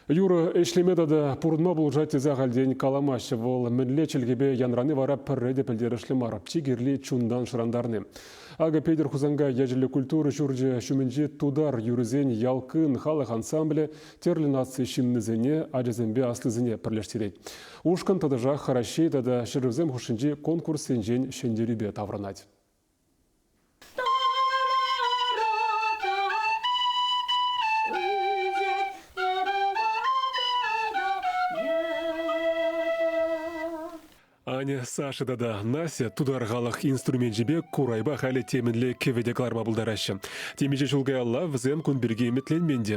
Юрӑ ӗҫлеме тата пурӑнма пулӑшать тесе ахальтен каламаҫҫӗ. Вӑл мӗнле чӗлхепе янрани вара пӗрре те пӗлтерӗшлӗ мар. Чи кирли чунтан шӑрантарни. Акӑ Петӗр Хусанкай ячӗллӗ культура ҫурчӗ ҫумӗнчи Тутар юррисен Ялкын халӑх ансамблӗ тӗрлӗ наци ҫыннисене, ачасемпе аслисене пӗрлештерет. Ушкӑн тӑтӑшах Раҫҫей тата ҫӗршывсем хушшинчи конкурссенчен ҫӗнтерӳпе таврӑнать. Аня, Саша тата Настя тутар халӑх инструменчӗпе курайпа халӗ темӗнле кӗвӗ те кӑларма пултараҫҫӗ. Темиҫе ҫул каялла вӗсем кун пирки ӗмӗтленмен те.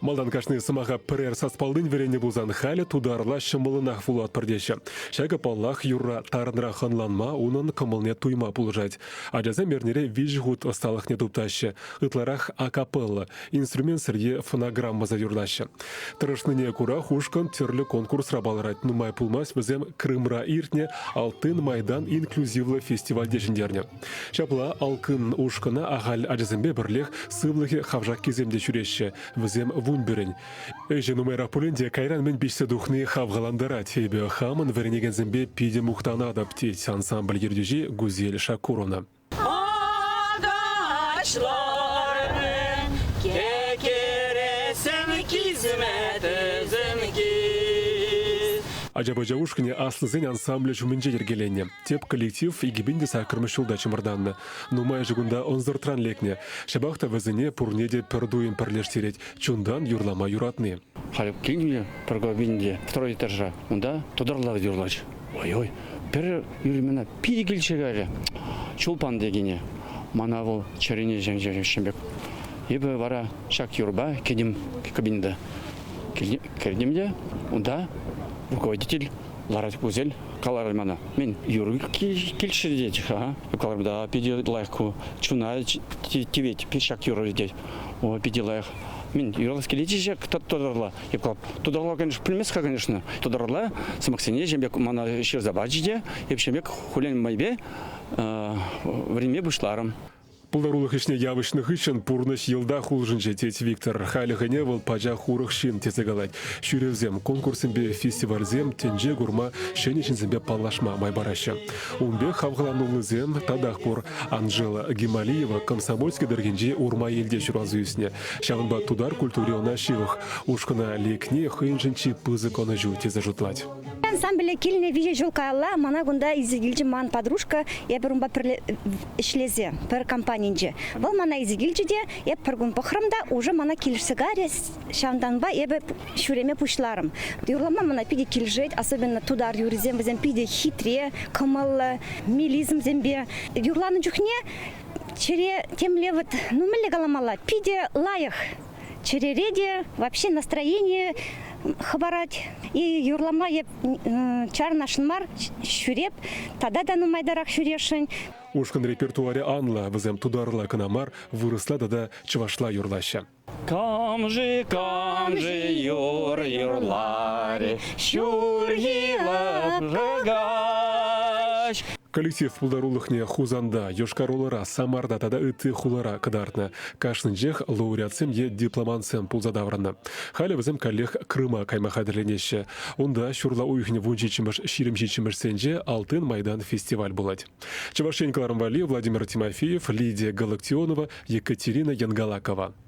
Малтан кашни сӑмаха пӗрер саспаллин вӗреннӗ пулсан халӗ тутарла ҫӑмӑллӑнах вулатпӑр теҫҫӗ. Ҫакӑ, паллах, юрра тарӑнрах ӑнланма, унӑн кӑмӑлне туйма пулӑшать. Ачасем эрнере виҫӗ хут ӑсталӑхне туптаҫҫӗ. Ытларах акапелла, инструмент сырье фонограммӑсем юрлаҫҫӗ. Тӑрӑшнине кура ушкӑн тӗрлӗ конкурсра палӑрать. Нумай пулмасть вӗсем Крымра иртнӗ Алтын майдан инклюзивлӑ фестивальте ҫӗнтернӗ. Ҫапла Алкын ушкӑна ахаль ачасемпе пӗрлех сывлӑхӗ хавшаккисем те ҫӳреҫҫӗ. Вӗсем вунпӗрӗн. Ӗҫӗ нумайрах пулин те кайран мӗн пиҫсе тухни хавхалантарать. Эпӗ хамӑн вӗренекенсемпе питӗ мухтанатӑп, тет ансамбль ертӳҫи Гузель Шакурова. Агачлармӗн кекересем кисметӗсем кис. Ача-пӑча ушкӑнӗ аслисен ансамблӗ ҫумӗнче йӗркеленӗ. Тӗп коллектив икӗпин те саккӑрмӗш ҫулта чӑмӑртаннӑ. Нумайӑшӗ кунта ӑнсӑртран лекнӗ. Ҫапах та вӗсене пурне те пӗр туйӑм пӗрлештерет, чунтан юрлама юратни. Халӗ килнӗ Прокопин те второй этажра. Унта тутӑрлах юрлать. Ой-ой, пӗр ӳлӗмӗ питӗ килчӗ каярӗ. Чулпан текене. Мана вӑл чӗрене чӗнчӗ пек. Эпӗ вара ҫак юрпа кӗтӗм кабинета. Кӗртӗм те унта руководитель ларать пузель, каларӗ мана. Мен юр килчӗ тет-ха, каларӑмта питӗ лайӑх ку, чуна тивет, ҫак юрӑ тет. О, питӗ лайӑх. Мен юралас килетчӗ тӑтӑрла. Тутарла, конечно, пӗлмест-ха, конечно. Тутарла сӑмахсене ҫем пек мана ҫырса пачӗ те, эпҫем пек хулен майпе вӗренме пуҫларӑм. Пултарулӑх ӗҫне явӑҫнӑ хыҫҫӑн пурнӑҫ йӑлтах улшӑнчӗ, тет Виктор. Халӗ хӗне вӑл пачах урӑх ҫын тесе калать. Ҫӳревсем, конкурссемпе фестивальсем тӗнче курма, ҫӗнӗ ҫынсемпе паллашма май параҫҫӗ. Ун пек хавхалануллисем татах пур. Анжела Гималиева Комсомольски тӑрӑхӗнчи Урмаелте ҫуралса ӳснӗ. Ҫавӑнпа тутар культури ӑна ҫывӑх. Ушкӑна лекни хӑйӗншӗн чи пысӑк ӑнӑҫу тесе шутлать. Ансамбле килнӗ виҫӗ ҫул каялла мана кунта илсе килчӗ ман подружка. Эпӗ унпа пӗрле ӗҫлесе пӗр компанинче. Вӑл мана илсе килчӗ те эп пӗр кун пӑхрӑм та уже мана килӗшсе карӗ. Ҫавӑнтанпа эпӗ ҫӳреме пуҫларӑм. Юрлама мана питӗ килӗшет, особенно тутар юррисем вӗсем питӗ хитре, кӑмӑллӑ, мелизмсемпе. Юрланӑ чухне чӗре темле вот ну мӗнле каламалла питӗ лайӑх. чӗрере те вообще настроение хӑпарать. И юрлама эп чарнашын мар ҫӳреп, тата та нумайтарах ҫӳрешӗн. Ушкӑн репертуарӗ анлӑ, вӗсем тутарла кӑна мар, вырӑсла тата чӑвашла юрлаҫҫӗ. Камжи, камжи юр юрлари, ҫурхи лапкагач. Коллектив пултарулӑхне Хусанта, Йошкар-Олӑра, Самарта тата ытти хулара кӑтартнӑ. Кашнинчех лауреатсем е дипломантсем пулса таврӑннӑ. Халӗ вӗсем каллех Крыма кайма хатӗрленеҫҫӗ. Унта ҫурла уйӑхӗн вун ҫиччӗмӗш ҫирӗм ҫиччӗмӗшсенче Алтын майдан фестиваль пулать. Чӑваш Ен кӑларӑм валли Владимир Тимофеев, Лидия Галактионова, Екатерина Янгалакова.